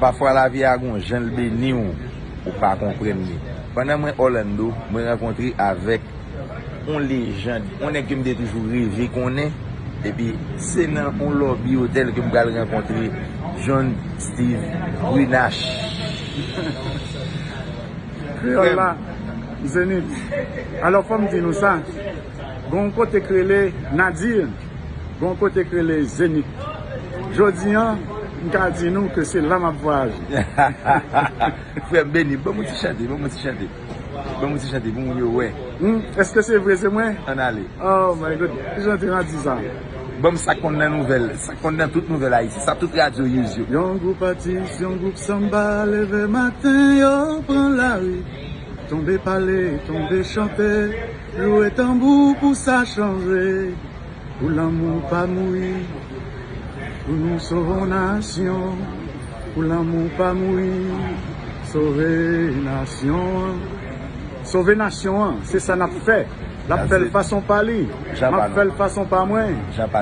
Pafwa lavi a gon janl beniw ou pa konprann li. Pandan mwen Orlando, mwen rankontre avèk. yon lejand, yon nèg ke m te toujou reve konnen, epi se nan yon lòbi otèl ke m pral rankontre John Steve Brunache. Kreyòl la, Zenith. Alò fò m di nou sa, gen yon kote k rele Nadir, gen yon kote k rele Zenith. Jodi an, m ka di nou ke se la m ap vwayaje. Frè m, Benny, ban mwen ti chante, ban mwen ti chante. Banm yon ti chante pou moun yo wè. Humm eske se vre se mwen? Ann ale. Oh my God ki jan ti randi sa. Banm sak konn nan nouvèl, sak konn nan tout nouvèl Ayiti, sa tout radyo use yo. Yon gwoup atis, yon gwoup sanba leve maten yo pran lari Tonbe pale, tonbe chante, lwe tanbou pou sa chanje Pou lanmou w pa mouri Pou nou sove yon nasyon Pou lanmou w pa mouri Sove nasyon an Sove nasyon an Se sa n ap fè L ap fè l fason pa li M ap fè l fason pa mwen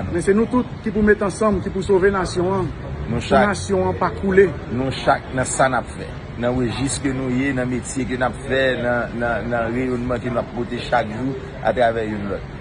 Men se nou tout ki pou met ansanm Ki pou sove nasyon an Pou nasyon an pa koule Nou chak nan sa n ap fè Nan rejis ke nou ye Nan metye ke n ap fè Nan reyonman ke n ap pote chak jou Atravè youn lòt.